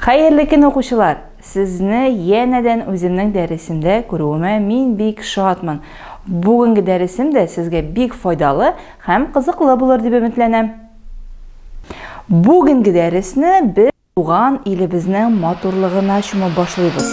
Хәерле көн укучылар! Сезне янәдән үземнең дәресемдә күрүемә мин бик шатмын. Бүгенге дәресем дә сезгә бик файдалы һәм кызыклы булыр дип өметләнәм. Бүгенге дәресне без туган илебезнең матурлыгына чумып башлыйбыз.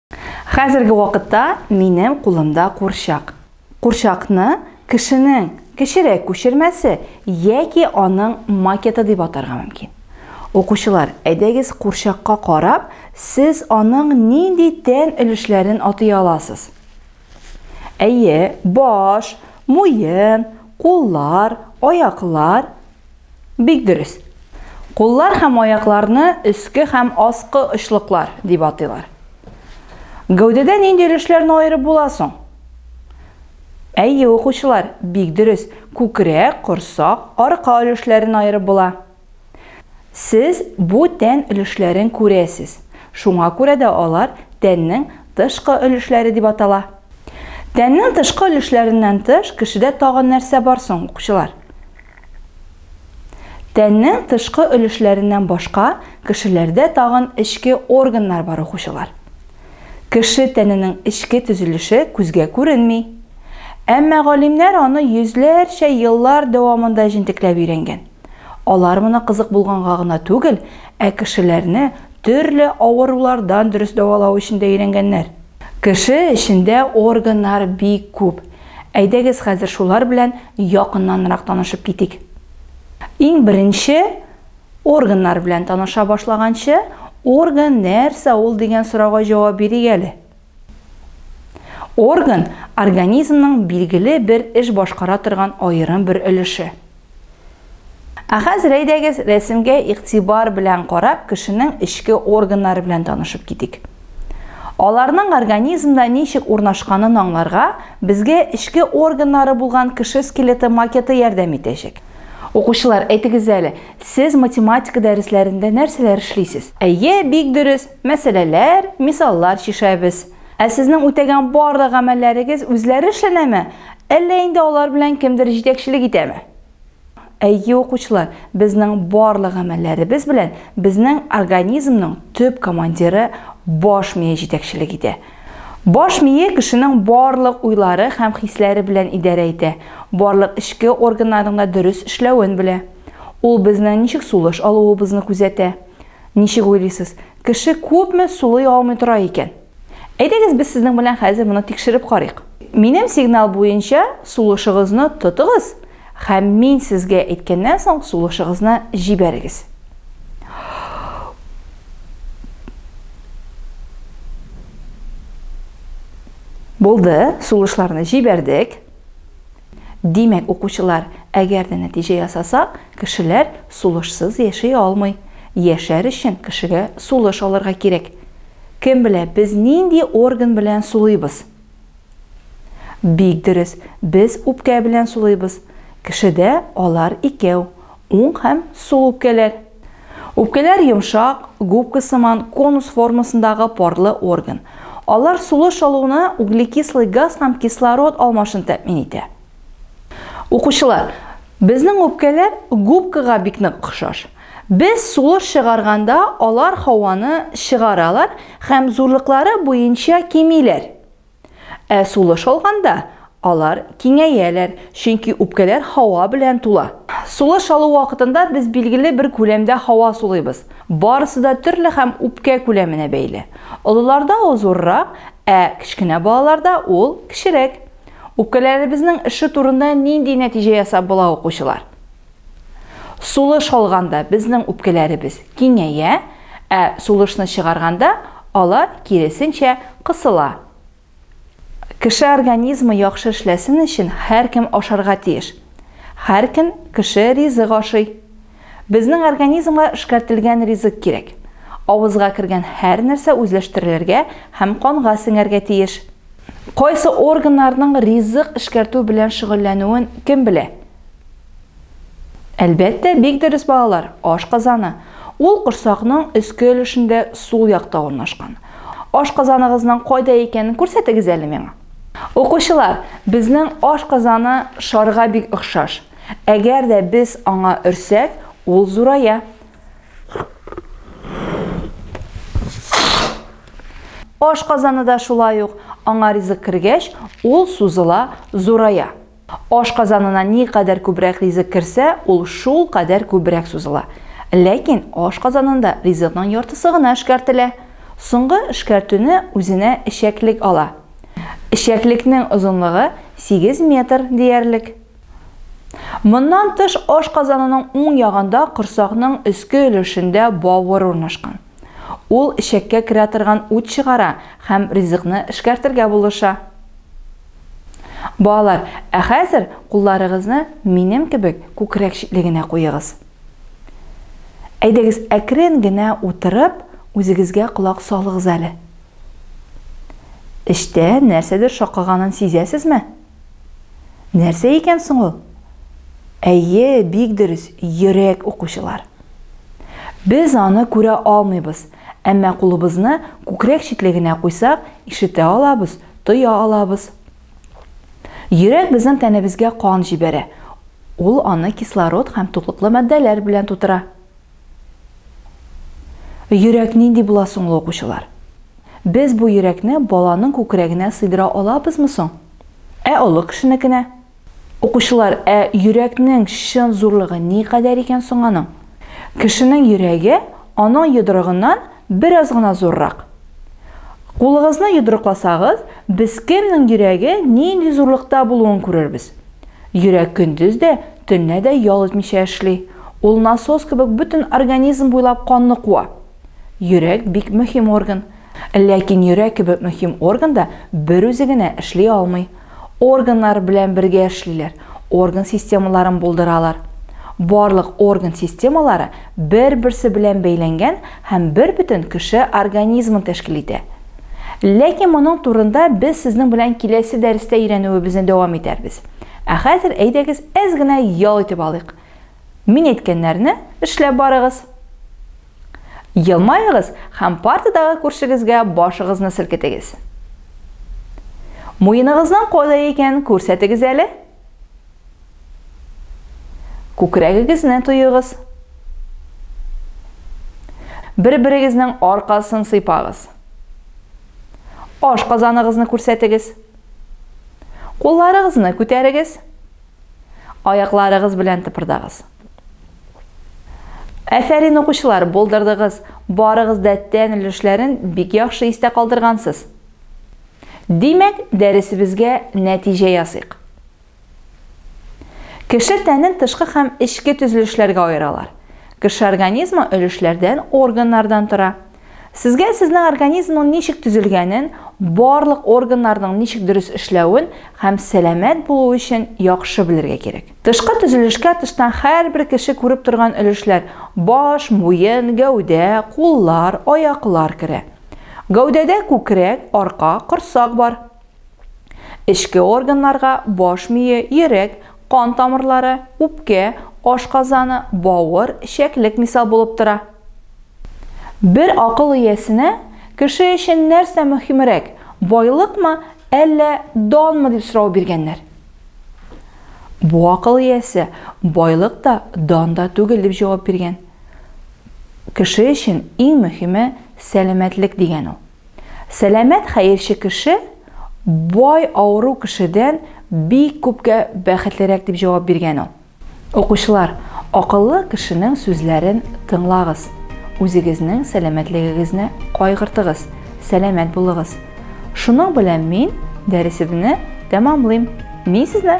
Хәзерге вакытта минем кулымда курчак. Курчакны кешенең кечерәк күчермәсе яки аның макеты дип атарга мөмкин. Укучылар, әйдәгез курчакка карап, сез аның нинди тән өлешләрен атый аласыз? Әйе, баш, муен, куллар, аяклар. Бик дөрес. Куллар һәм аякларны өске һәм аскы очлыклар дип атыйлар. Гәүдәдә нинди өлешләрне аерып була соң? Әйе, укучылар, бик дөрес. Күкрәк, корсак, арка өлешләрен аерып була. Сез бу тән өлешләрен күрәсез. Шуңа күрә дә алар тәннең тышкы өлешләре дип атала. Тәннең тышкы өлешләреннән тыш кешедә тагын нәрсә бар соң, укучылар? Тәннең тышкы өлешләреннән башка кешеләрдә тагын эчке органнар бар укучылар. Кеше тәненең эчке төзелеше күзгә күренми. Әмма галимнәр аны йөзләрчә еллар дәвамында җентекләп өйрәнгән. Алар моны кызык булганга гына түгел, ә кешеләрне төрле авырулардан дөрес дәвалау өчен дә өйрәнгәннәр. Кеше эчендә органнар бик күп. Әйдәгез хәзер шулар белән якыннанрак танышып китик. Иң беренче органнар белән таныша башлаганчы, орган нәрсә ул дигән сорауга җавап бирик әле. Орган, организмның билгеле бер эш башкара торган аерым бер өлеше. Ә хәзер әйдәгез, рәсемгә игътибар белән карап, кешенең эчке органнары белән танышып китик. Аларның организмда ничек урнашканын аңларга безгә эчке органнары булган кеше скелеты макеты ярдәм итәчәк. Укучылар, әйтегез әле, сез математика дәресләрендә нәрсәләр эшлисез? Әйе, бик дөрес, мәсьәләләр, мисаллар чишәбез. Ә сезнең үтәгән барлык гамәлләрегез үзләре эшләнәме? Әллә инде алар белән кемдер җитәкчелек итәме? Әйе, укучылар, безнең барлык гамәлләребез белән безнең организмның төп командиры баш мие җитәкчелек итә. Баш мие кешенең барлык уйлары һәм хисләре белән идарә итә, барлык эчке органнарның да дөрес эшләвен белә. Ул безнең ничек сулыш алуыбызны күзәтә. Ничек уйлыйсыз, кеше күпме сулый алмый тора икән? Әйдәгез без сезнең белән хәзер моны тикшереп карыйк. Минем сигнал буенча сулышыгызны тотыгыз һәм мин сезгә әйткәннән соң сулышыгызны җибәрегез. Булды, сулышларны җибәрдек. Димәк, укучылар, әгәр дә нәтиҗә ясасак, Кешеләр сулышсыз яши алмый. Яшәр өчен кешегә сулыш алырга кирәк. Кем белә, без нинди орган белән сулыйбыз? Бик дөрес, без үпкә белән сулыйбыз. Кешедә алар икәү, уң һәм сул үпкәләр. Үпкәләр йомшак, губка сыман, конус формасындагы парлы орган. Алар сулыш алуны углекислый газ һәм кислород алмашын тәэмин итә. Укучылар, безнең үпкәләр губкага бик нык охшаш. Без сулыш чыгарганда алар һаваны чыгаралар һәм зурлыклары буенча кимиләр. Ә сулыш алганда алар киңәяләр, чөнки үпкәләр һава белән тула. Сулыш алу вакытында без билгеле бер күләмдә һава сулыйбыз. Барысы да төрле һәм үпкә күләменә бәйле. Олыларда ул зуррак, ә кечкенә балаларда ул кечерәк. Үпкәләребезнең эше турында нинди нәтиҗә ясап була укучылар? Сулыш алганда безнең үпкәләребез киңәя, ә сулышны чыгарганда алар киресенчә кысыла. Кеше организмы яхшы эшләсен өчен һәркем ашарга тиеш. Һәркем кеше ризык ашый. Безнең организмга эшкәртелгән ризык кирәк. Авызга кергән һәр нәрсә үзләштерелергә һәм канга сеңәргә тиеш. Кайсы органнарның ризык эшкәртү белән шөгыльләнүен кем белә? Әлбәттә, бик дөрес балалар, ашказаны. Ул корсакның өске өлешендә сул якта урнашкан. Ашказаныгызның кайда икәнен күрсәтегез әле миңа. Укучылар, безнең ашказаны шарга бик охшаш. Әгәр дә без аңа өрсәк, ул зурая. Аш казаны да шулай ук, аңа ризык кергәч, ул сузыла, зурая. Аш казанына ни кадәр күбрәк ризык керсә, ул шул кадәр күбрәк сузыла. Ләкин аш казанында ризыкның яртысы гына эшкәртелә. Соңгы эшкәртүне үзенә эчәклек ала. Эчәклекнең озынлыгы 8 метр диярлек. Моннан тыш, ашказанының уң ягында корсакның өске өлешендә бавыр урнашкан. Ул эчәккә керә торган ут чыгара һәм ризыкны эшкәртергә булыша. Балалар, ә хәзер кулларыгызны минем кебек күкрәк читлегенә куегыз. Әйдәгез, әкрен генә утырып, үзегезгә колак салыгыз әле. Эчтә нәрсәдер шакыганын сизәсезме? Нәрсә икән соң ул? Әйе, бик дөрес, йөрәк, укучылар. Без аны күрә алмыйбыз, әмма кулыбызны күкрәк читлегенә куйсак, ишетә алабыз, тоя алабыз. Йөрәк безнең тәнебезгә кан җибәрә, ул аны кислород һәм туклыклы матдәләр белән тутыра. Йөрәк нинди була соң ул, укучылар? Без бу йөрәкне баланың күкрәгенә сыйдыра алабызмы соң? Ә олы кешенекенә? Укучылар, ә йөрәкнең чын зурлыгы никадәр икән соң аның? Кешенең йөрәге аның йодрыгыннан бераз гына зуррак. Кулыгызны йодрыкласагыз, без кемнең йөрәге нинди зурлыкта булуын күрербез. Йөрәк көндез дә, төнлә дә ял итмичә эшли. Ул насос кебек бөтен организм буйлап канны куа. Йөрәк бик мөһим орган. Ләкин йөрәк кебек мөһим орган да берүзе генә эшли алмый. Органнар белән бергә эшлиләр, орган системаларын булдыралар. Барлык орган системалары бер-берсе белән бәйләнгән һәм бербөтен кеше организмын тәшкил итә. Ләкин моның турында без сезнең белән киләсе дәрестә өйрәнүебезне дәвам итәрбез. Ә хәзер әйдәгез әз генә ял итеп алыйк. Мин әйткәннәрне эшләп барыгыз. Елмаегыз һәм партадагы күршегезгә башыгызны селкетегез. Муеныгызның кайда икәнен күрсәтегез әле. Күкрәгегезне туегыз. Бер-берегезнең аркасын сыйпагыз. Аш казаныгызны күрсәтегез. Кулларыгызны күтәрегез. Аякларыгыз белән тыпырдагыз. Әфәрин укучылар, булдырдыгыз. Барыгыз да тән өлешләрен бик яхшы истә калдыргансыз. Димәк, дәресебезгә нәтиҗә ясыйк. Кеше тәнен тышкы һәм эчке төзелешләргә аералар. Кеше организмы өлешләрдән, органнардан тора. Сезгә сезнең организмның ничек төзелгәнен, барлык органнарның ничек дөрес эшләвен һәм сәламәт булу өчен яхшы белергә кирәк. Тышкы төзелешкә тыштан һәрбер кеше күреп торган өлешләр, баш, муен, гәүдә, куллар, аяклар керә. Гәүдәдә күкрәк, арка, корсак бар. Эчке органнарга баш мие, йөрәк, кан тамырлары, үпкә, ашказаны, бавыр, чәклек мисал булып тора. Бер акыл иясенә, кеше өчен нәрсә мөһимрәк, байлыкмы, әллә данмы дип сорау биргәннәр. Бу акыл иясе байлык та, дан да түгел дип җавап биргән. Кеше өчен иң мөһиме сәламәтлек дигән ул. Сәламәт хәерче кеше бай авыру кешедән бик күпкә бәхетлерәк дип җавап биргән ул. Укучылар, акыллы кешенең сүзләрен тыңлагыз, үзегезнең сәламәтлегегезне кайгыртыгыз, сәламәт булыгыз. Шуның белән мин дәресебезне тәмамлыйм. Мин сезне.